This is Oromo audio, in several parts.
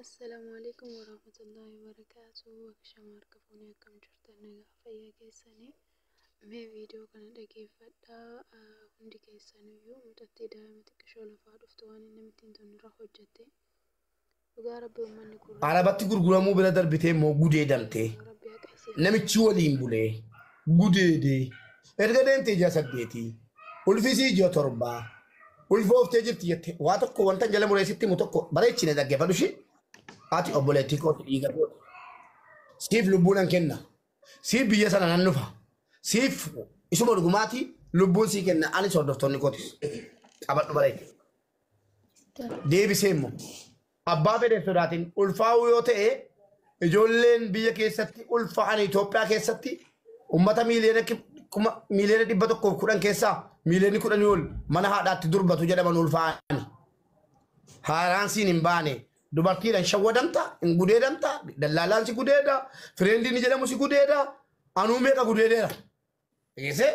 Assalaamu alaikum warahmatullahi wabarakaatu Akka shamaa harka fuunee akkam jirtan nagaa fayyaa keessanii mee viidiyoo kana dhageeffadhaa Ah, hundi keessaniyyuu mucattii daa'ima xiqqishoo lafaa dhuftu waan inni namitti hin tolne irra hojjette dhugaa rabbi uummanni kun Arabatti gurguramuu bira darbitee immoo gudeedamtee rabbi haqa isii namichi waliin bulee gudeedee erga deemtee ji'a saddeetii ulfisii ji'a torbaa ulfooftee jirti jette waa tokko wanta jala mureessitti himu tokko bareechine dhaggeeffadhu ishee ati obboleettii kooti dhiiga kooti siif lubbuu nan kenna siif biyya sana nan dhufa siif isuma dhugumaati lubbuun sii kenna anis hordoftoonni kootis qabadhu bareeche deebisee immoo Abbaa fedhe hin sodaatin. Ulfaa'uu yoo ta'e ijoolleen biyya keessatti ulfaa'an Itoophiyaa keessatti ummata miiliyoona kib- kuma- miiliyoona 110 keessaa miiliyoonni 10 ol mana haadhaatti durbatu jedhaman ulfaa'ani. Haaraan siin hin baane. Dubartiidhaan shawwadamta, hin gudeedamta, dallaalaan si gudeeda, fireendiin jedhamu si gudeeda, anuu meeqa gudeedeera. Eese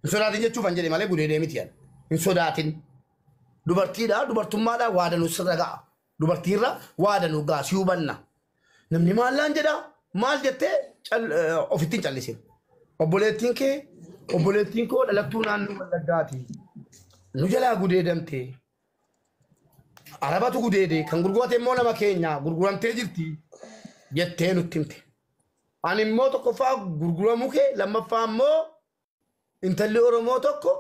hin sodaatin jechuuf an jedhe malee gudeedee miti an. Hin sodaatin. Dubartiidha dubartummaadha waa danuu sirra ga'a. Dubartiirra waa danuu ga'a si hubanna. Namni maallaan jedha maal jettee cal- eh, ofitti hin callisin. Obboleettiin kee obboleettiin koo dhalattuu naannoo Wallaggaati. Nu jalaa gudeedamte Arabatu gudeede kan gurgurate immoo nama keenya gurguramtee jirti jettee nutti himte. Ani immoo tokkoffaa gurguramuu kee lammaffaa immoo intalli Oromoo tokko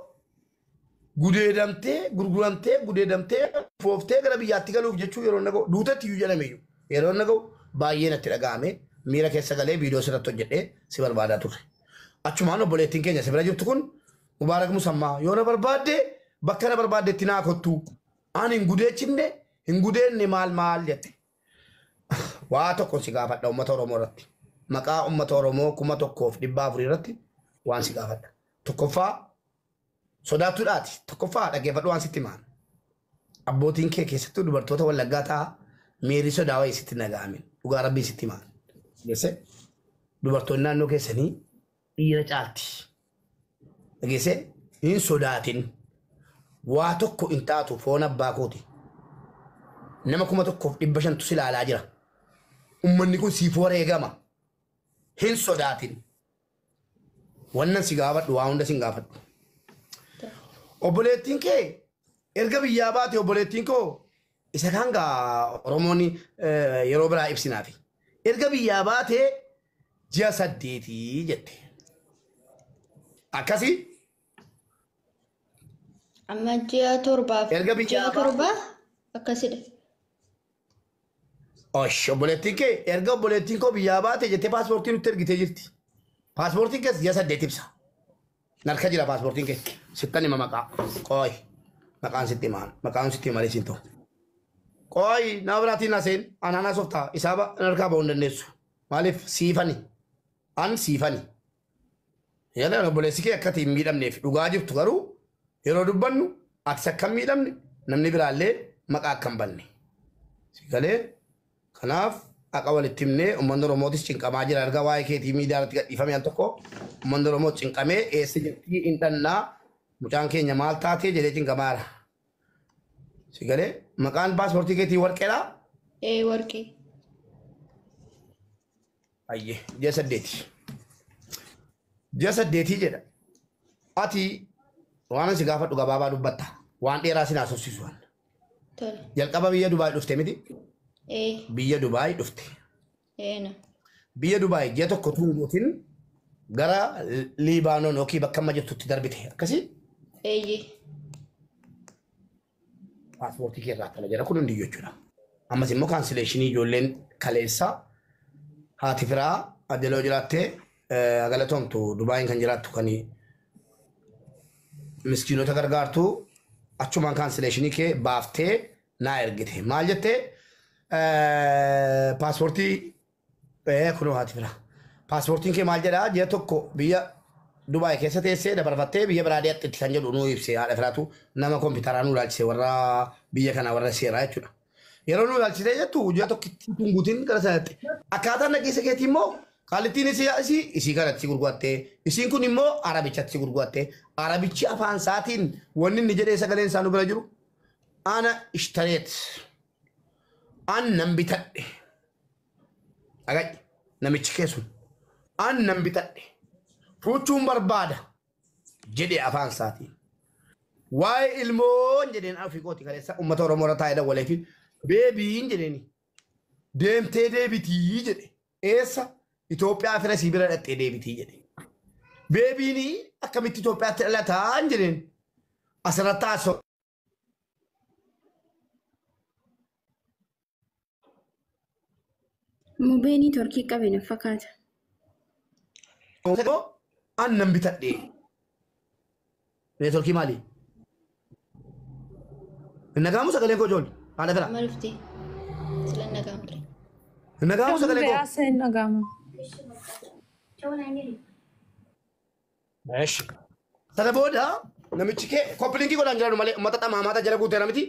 gudeedamtee gurguramtee gudeedamtee fooftee gara biyyaatti galuuf jechuu yeroo na ga'u duutetti iyyuu jedhame iyyuu yeroo na ga'u baay'ee natti dhaga'ame miira keessa galee viidiyoo sirratti hojjedhee si barbaadaa turre. Achumaan obboleettiin keenya si bira jirtu kun Mubaarak Musammaa, Yoo na barbaadde bakka na barbaaddetti naa kottu. Ani hin gudeechifne, hin gudeenne maal maal jette. Waa tokkon si gaafadha uummata Oromoo irratti. Maqaa uummata Oromoo kuma tokkoof dhibbaa afurii irratti waan si gaafadha. Tokkoffaa sodaattuudhaati. Tokkoffaa dhaggeeffadhu waan sitti himaan. Abbootiin kee keessattuu dubartoota wallaggaa ta'a miirri sodaa wayii sitti hin dhaga'amin. Dhugaa rabbiin sitti himaan. Geesse dubartoonni naannoo keessanii Dhiira caalti. Dhageessee? Hin sodaatin. Waa tokko hin taatu foon abbaa kooti. Nama kuma tokkoof dhibba shantu si ilaalaa jira. Ummanni kun siif wareegama. Hin sodaatin. Wannan si gaafadhu waa hunda sin gaafadhu. Obboleettiin kee erga biyyaa baate obboleettiin koo isa kaan gaa Oromoon eh, yeroo biraa ibsinaafi. Erga biyyaa baatee ji'a saddeetii jette. Akkasii Amma ji'a torbaaf Erga biyyaa ji'a baate- torbaa akkasidha. Osh, obboleettiin kee erga obboleettiin koo biyyaa baate jettee paaspoortii nutti ergitee jirti. Paaspoortiin kees ji'a saddeet ibsa. Narka jira paaspoortiin kee. Sittan hima maqaa. Qooyi. Maqaan sitti himaa. Maqaan sitti himalee siin ta'u. Qooyi nama biraatiin naseen anaan haasoftaa isaa ba- narkaa ba'uu hin dandeessu. Maaliif siifani? An siifani. Yaadaan obboleessi kee akkati hin miidhamneef dhugaa jirtu garuu yeroo dubbannu atis akka hin miidhamne namni biraallee maqaa akka hin banne. Si galee kanaaf haqa walitti himnee uummanni Oromootis cinqamaa jira erga waa'ee keetii miidiyaa irratti gadhiifame al tokko uummanni Oromoo cinqamee eessa jirtii hin dhannaa mucaan keenya maal taatee jedhee cinqamaa jira. Si galee maqaan paaspoortii keetii warqeedhaa? Ee warqee. Ayyee ji'a saddeeti. Ji'a saddeetii jedha. Ati waan si gaafadhu gabaabaa dubbatta. Waan dheeraa sin haasofsiisu. Tole. Jalqaba biyya Dubaay dhufte miti? Ee. Biyya Dubaay dhufte. Eena. Biyya Dubaay ji'a tokko tun gootin gara Liibaanoon yookiin bakka amma jirtutti darbite akkasii Eeyyee. paaspoortii kee irraa kana jira kun hundi jechuudha. Ammas immoo kaansileeshinii ijoolleen kaleessaa haati firaa adeloo jiraattee eh, galatoomtu Dubaayiin kan jiraattu kan miskiinota gargaartu achumaan kaansileeshinii kee baaftee naa ergite maal jette paaspoortii kunoo haati fira paaspoortiin kee maal jedhaa ji'a tokko biyya Dubaay keessa teessee dabarfattee biyya biraa deetti kan jedhu nuu ibse haadha firaatu nama kompiitaraa nuu ilaalchise warra biyya kanaa warra seeraa jechuudha. Yeroo nuu ilaalchisee jettu ji'a tokkittii tun guutiin gara sanatti. Akkaataan dhageessa keetii immoo qaalittiin isii isii kanatti gurgurattee isiin kun immoo arabichatti gurgurattee arabichi afaan isaatiin wanni inni jedhee sagaleen isaa nu bira jiru ana ishtareet an nan bitadhe dhaga'i namichi kee sun an nan bitadhe fuuchuun barbaada jedhe afaan isaatiin waa'ee ilmoon jedheen afii kooti kaleessa uummata oromoo irra taa'ee dawwalee fi beebiin jedheeni deemtee deebitii jedhe Eessa? Itoophiyaa fira sii bira dhaxxee deebitii jedhe. Beebiini akkamitti Itoophiyaatti dhalataa hin jedheen. Asirratti haasoo. Mubeenii torkii qabe na fakkaata. Annan bitadhee. Neetworkii maali? Hin nagaamu sagaleen koo ijoolli. Haala gara. Amma dhufte. Sila nagaan ture. Hin nagaamu sagaleen koo. Yaasa hin dhagaamu. Eesh. Sana booda namichi kee koppilinkii godhaan jiraanu malee uummata xamaamaata jala guuteera miti.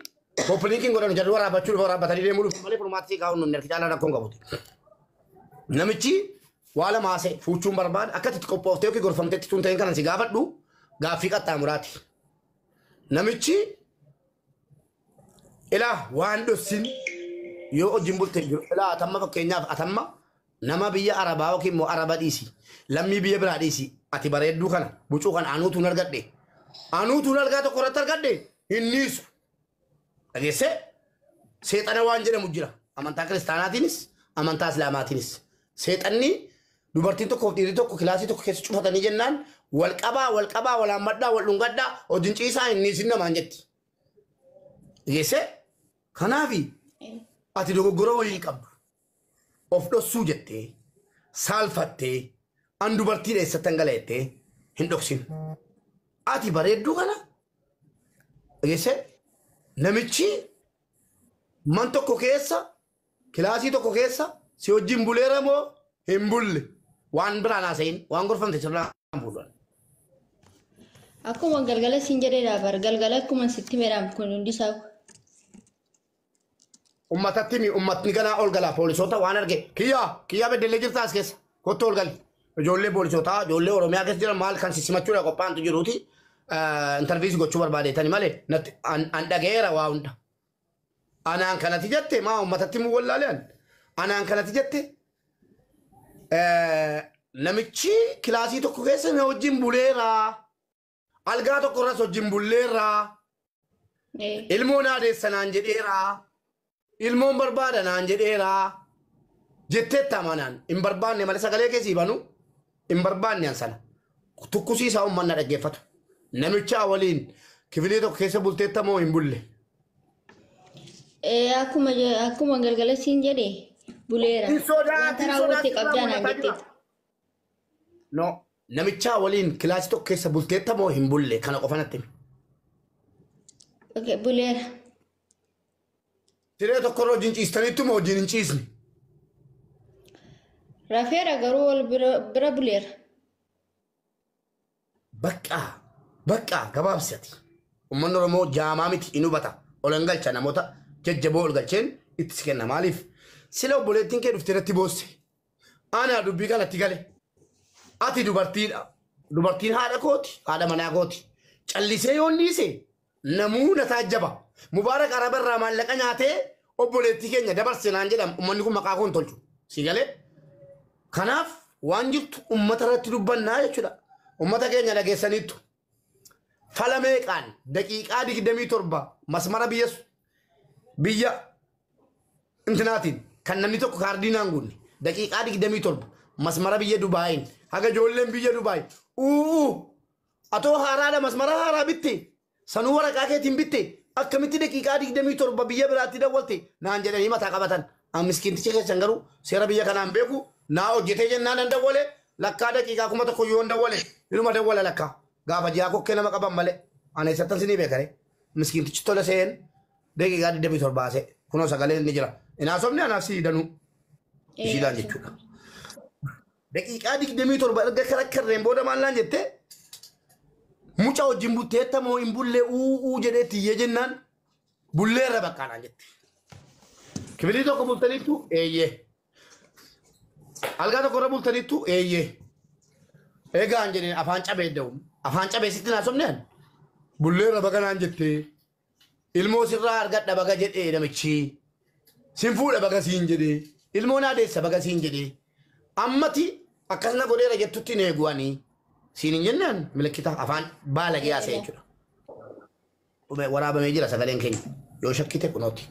Kooppi linkiin godhanu jarri waraabbachuu dhufa waraabbatanii deemuu dhufu malee furmaata sii kaa'uun nunni harki caalaa rakkoon qabuti. Namichi waa lama haasa'e fuuchuun barbaada akka itti qophooftee yookiin gorfamteetti tun ta'in kanan si gaafadhu gaaffii qaxxaamuraati. Namichi ilaa waan dhossin yoo hojiin bulte jiru ilaa atamma fakkeenyaaf atamma Nama biyya arabaa yookiin immoo araba dhiisi lammii biyya biraa dhiisi ati bareedduu kana bucuu kana anuutuun argadhe anuutuun algaa tokko irratti argadhe hin dhiisu dhageessee seexana waan jedhamu jira amantaa kiristaanaatiinis amantaa islaamaatiinis seexanni dubartiin tokkoof dhiirri tokko kilaasii tokko keessa cufatanii jennaan wal qabaa wal qabaa wal hammadhaa wal dhungadhaa hojiin ciisaa hin dhiisin namaan jetti dhageessee kanaafi ati dogoggora wayii hin qabdu Of dhossuu jettee, saalfattee, an dubartiin eessattan gala jettee hin dhoksin. Ati bareedduu kana dhageessee namichi man tokko keessa kilaasii tokko keessa si wajjin buleera moo hin bulle waan biraan haasa'in waan gorfamte sirraa hin fuudhan. Akkuma galgala siin jedheedha bar galgala akkuma sitti meedhaam kun hundi isaa Ummatatti himi ummatni ganaa ol galaa poolisoota waan arge kiyyaa kiyyaa beddellee jirtaa as keessa kottu ol gali. Ijoollee poolisootaa ijoollee Oromiyaa keessa jiran maal kan sissimachuudha qophaa'antu jiruuti intarviisii gochuu barbaadeetani malee natti an an dhaga'eera waa hunda. Anaan kanati jette maa ummatatti himuu wallaaleen anaan kanati jette eh, namichi kilaasii tokko keessa na wajjin buleeraa. Algaa tokko irras wajjin bulleerraa. Ee. Ilmoo naa deessa naan jedheeraa. Ilmoon barbaada naan jedheeraa. Jetteetta amanaan hin barbaanne malee sagalee kee sii banu hin barbaanne an sana. Tukkusii isaa uummanna dhaggeeffatu. Namichaa waliin kifilee tokko keessa bulteetta moo hin bulle. Ee, akkuma je- akkuma galgala siin jedhe buleera. Hin sodaatu, Wanta hin raawwatte sodaatu, qabdaa naan raawwata jetteetti. No. Namichaa waliin kilaasii tokko keessa bulteetta moo hin bulle kana qofa natti himi. Okay, buleera. Siree tokkorra wajjin ciistaniittu moo wajjin hin ciisne? Rafeera garuu wal bira, bira buleera. Baqqaa baqqaa gabaabsati. Uummanni Oromoo jaamaa miti hin hubata. Ol hin galcha namoota jajjaboo ol galcheen itti si kenna. Maaliif? Sila obboleettiin kee dhuftee irratti boosse. Anaa dubbii kanatti gale. Ati dubartiidha. Dubartiin haadha kooti, haadha manaa kooti. Callisee yoon dhiise namuu na taajjaba. Mubaarak Araba irraa maallaqa nyaatee obboleettii keenya dabarse naan jedhama. Ummanni kun maqaa koo hin tolchu. Si galee? Kanaaf waan jirtu ummata irratti dubbannaa jechuudha. Ummata keenya dhageessaniittu. fala meeqaan daqiiqaa 27 masmara biyya su- biyya intinaatiin kan namni tokko kaardii naan guunne daqiiqaa 27 masmara biyya Dubaayiin haga ijoolleen biyya Dubaay uuu atoo haaraadha masmara haaraa bitte sanuu waraqaa keetiin bitte akkamitti daqiiqaa 27 biyya biraatti dawwalte naan jedhanii mataa qabatan An miskiinticha keessan garuu seera biyya kanaa hin beeku, naa hojjetee jennaan nan dawwale, lakkaa daqiiqaa kuma tokko iyyuu yoon dawwale inuma dawwala lakkaa, gaafa ji'aa kokkee nama qaban malee an eessattan sinii beeka ree? Miskiintichi tole se'een daqiiqaa 27 haasa'e, kunoo sagaleen ni jira, hin haasofne anaaf sii danuu ishiidhaan jechuudha. Daqiiqaa 27 erga karakkarreen booda maal naan jette muca wajjin butteetta moo hin bullee uu uu jedhee tiyyee jennaan Bulleerra bakka naan jette. Kifilii tokko bultaniittu eeyyee. Algaa tokko irra bultaniittu eeyyee. Egaa hin jedheen afaan cabee da'u. Afaan cabee sitti naa somneen. Bulleerra baga naan jette. Ilmoo sirraa argadha baga jedhee namichi. Sin fuudha baga siin jedhee. Ilmoo naa deessa baga siin jedhee. Ammati akkas na godheera jettutti na eeguwanii. Siin hin jennaan milikkita afaan baalagee haasa'e jechuudha. dhume waraabamee jira sagaleen keenya yoo shakkite kunooti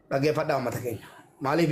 dhaggeeffadhaa uummata keenya maaliif